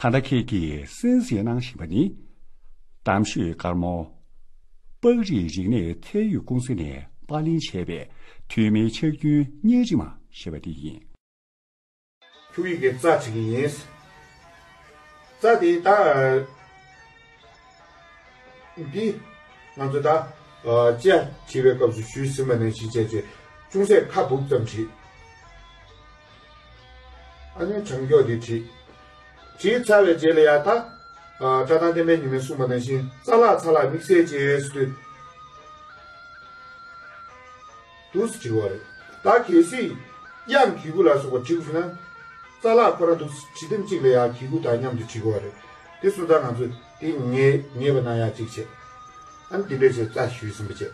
ད་ལྟ་ཁྱེད་ཀྱིས་གསན་གཟིགས་གནང་བཞིན་པ་ནི། གཏམ་ཤོད་དཀར་མོ། པགས་རིགས་རིག་གནས་ཚད་ཡོད་ཀུང་སི་ནས་དཔར་ལེན་བྱས་པའི་ཐོན་མིའི་ཕྱག་རྒྱུན་གཉེར་རིས་མ་ཞེས་པ་དེ་ཡིན། ཁྱུག་ཡིག་གི་རྩ་བྱེད་ཀྱི་ཡིན། རྩ་དེའི་ད། འདི། ང་ཚོས་ད། ཅེ། བྲིས་པའི་སྐབས་སུ་ཞུས་ཟིན་པ་ནས་གཞི་བྱས་རྗེས་ཅུང་ཟད་ཁ་སྦུབ་ཙམ་བྲིས། ཨ་ནུའི་བྱང་ཕྱོགས་དེ་བྲིས། བྲིས་ཚར་བའི་རྗེས་ལ་ཡང་དག། བཀྲག་མདངས་ལྡན་པའི་ཉི་མའི་སྲུང་མ་ནང་བཞིན་རྩ་ལག་ཚ་ལག་མིག་སེར་བྱེད་ཡས་སུ་དུས། དུ་སུ་བྲིས་བ་རེད། ད་གལ་སྲིད། དབྱངས་གི་གུ་ལ་སོགས་པ་བྲིས་དགོས་ན། རྩ་ལག་ཁོ་རང་དུ་སུ་བྲིས་དེམ་གཅིག་ལ་ཡང་གི་གུ་དང་མཉམ་དུ་བྲིས་དགོས་བ་རེད། དེ་སུ་ད་ང་ཚོས་དེ་ངེས་ངེས་པ་ན་ཡང་གཅིག་བྱས། ཨ་ནུ་འདི་འདྲས་བྱས་རྩ་ཞུས་ཟིན་པ་བྱས།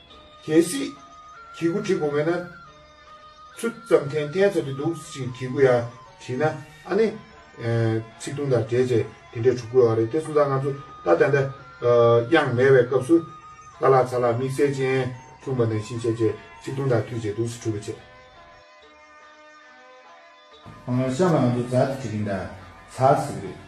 གལ་སྲིད། གྱི་གུ་བྲི་དགོས་མེད་ན། ཆུ་ཙམ་ཐན་བསྟན་ཚར་གྱི་འདུག་ཅིང་གྱི་གུ་ཡང་བྲིས་ན་ཨ་ནི། ཚིག་ཐུང་དང་བྲེལ་བཅས་དེ་འདྲས་འཁྲུག་དགོས་བ་རེད་དེ་སུ་ད་ང་ཚོ་ད་ད་ད། དབྱངས་མེད་བའི་སྐབས་སུ། ཀ་ལག་ཚ་ལག་དམིགས་བསལ་ཅན། འཁྲུངས་པ་ནས་གཤིན་བྱེད་བཅས་ཚིག་ཐུང་དང་མཐུད་བྱས་འདུག་སི་ཁྲུ་བ་བཅས། གཤམ་ལ་ང་ཚོ་ཛར་ཏི་བྲི་གིན་གདའ། ཚར་ཟིག་རེད།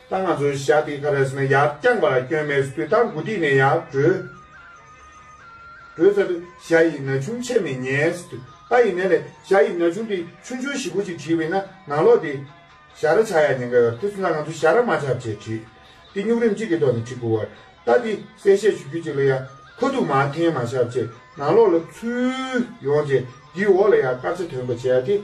ད་ང་ཚོའི་བཞག་དེ་ཀ་རེས་ན་ཡར་བརྐྱངས་པ་ལ་སྐྱོན་མེད་ཟུ་དུས་ད་མགོ་སྒྲིག་ནས་ཡར་བགྲོད། བགྲོད་ཚར་དུས་ཞྭ་ཡི་ན་ཆུང་ཆད་མེད་ཉལ། ད་ཡིན་ན་ལས་ཞྭ་ཡི་ན་ཆུང་དེ་ཆུང་ཆུང་ཞིག་པོ་ཅིག་བྲིས་བས་ན་ནང་ལོགས་དེ། ཞྭ་ར་ཆགས་ཡ་ཉེན་ཁ་ཡོད་དེ་ཚོ་ན་ང་ཚོ་ཞྭ་ར་མ་ཆགས་བྱེད་བྲིས། དེ་སྨྱུག་རིམ་གཅིག་གི་ཐོག་ནས་བྲིས་དགོས་བར། ད་དེ་གསལ་བཤད་ཞུ་རྒྱུ་ཅིག་ལ་ཡ། ཁོ་གཏུག་མ་འཐེན་མ་ཤར་བྱེད་ནང་ལོགས་ལ་ཚུད། ཡོང་རྗེས་དེའི་འོག་ལ་ཡ་དཀར་ཆ་དོན་པ་བྱེད་ཡ་དེ།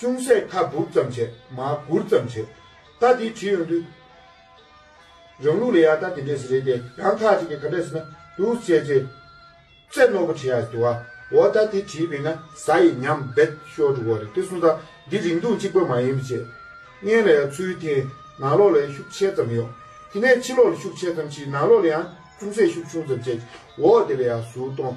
ཅུང་ཟད་ཁ་སྦུབ་ཙམ་བྱས་མ་གུར་ཙམ་བྱས་རྟ་དེ་བྲིས་ཡོང་དུས། རང་ལུགས་ལས་ཡག་རྟ་དེ་འདྲས་སུ་རེད་དེ་རང་ཁ་ཅིག་གིས་ག་འདྲས་སུ་ན་འདུག་བྱས་རྗེས། རྩེ་རྣོ་པོ་བྲིས་ཡག་ཡོད་དུ་བ་འོ་རྟ་དེ་བྲིས་པས་ན་ཟ་ཡི་ཉམས་རྦད་ཤོར་འགྲོ་གི་རེད་དེ་གསུངས་སྟངས་འདི་རིང་ཐུང་གཅིག་པ་མ་ཡིན་པ་བྱས། གཉན་ལ་ཡང་ཚུལ་དེ་ནང་ལོགས་ལས་ཤུགས་ཆེ་ཙམ་ཡོང། དེ་ནས་ཕྱི་ལོགས་ལ་ཤུགས་ཆེ་ཙམ་གྱིས་ནང་ལོགས་ལ་ཡང་ཅུང་ཟད་ཤུགས་ཆུང་ཙམ་བྱས་ཀྱི་འོ་དེ་ལ་ཡང་ཟུར་གཏོང་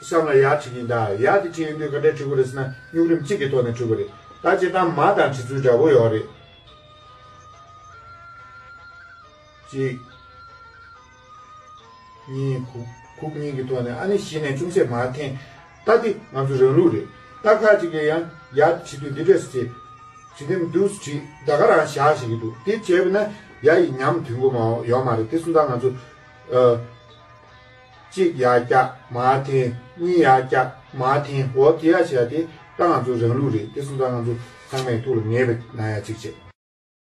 བསམ་ལ་ཡག་བྱེད་ཀྱིན་ད་ཡག་དེ་བྲིས་ཡོད་དུས་ག་འདྲའི་བྲིས་སྐུ་རེད་ཟེར་ན་སྨྱུག་རིམ་གཅིག་གི་ཐོག་ནས་བྲིས་སྐུ་རེད་ད་བྱས་སྟངས་མ་དང་བྲིས་ཚུལ་འདྲ་པོ་ཡོད་རེད། གཅིག། གཉིས། གུག་གཉིས་ཀྱི་ཐོག་ནས་ཨ་ནི་གཞི་ནས་ཅུང་ཟད་མ་འཐེན་ད་འདི་ང་ཚོ་རང་ལུགས་རེད་ད་ཁག་ཅིག་ལས་ཡང་ཡག་དེ་བྲིས་དུས་འདི་འདྲས་སུ་བྱེད་བྱེད་དེ་མི་འདུག་བྲིས་ད་ག་རང་བཞག་བྱེད་ཀྱི་འདུག་འདི་བྱས་པས་ན་ཡག་ཡིན་སྙམ་དུས་མགོ་མ་ཡོང་མ་རེད་དེ་གསུམ་དང་ང་ཚོ། གཅིག་ཡར་བཀྱག་མར་འཐེན་གཉིས་ཡར་བཀྱག་མར་འཐེན་འོ་དེ་ཡ་བྱས་ཏེ་ད་ང་ཚོ་རང་ལུགས་རེད་དེ་སུ་འདྲ་ང་ཚོ་ཚང་མས་ཐུགས་ལ་ངེས་པའི་ན་ཡ་གཅིག་བྱས།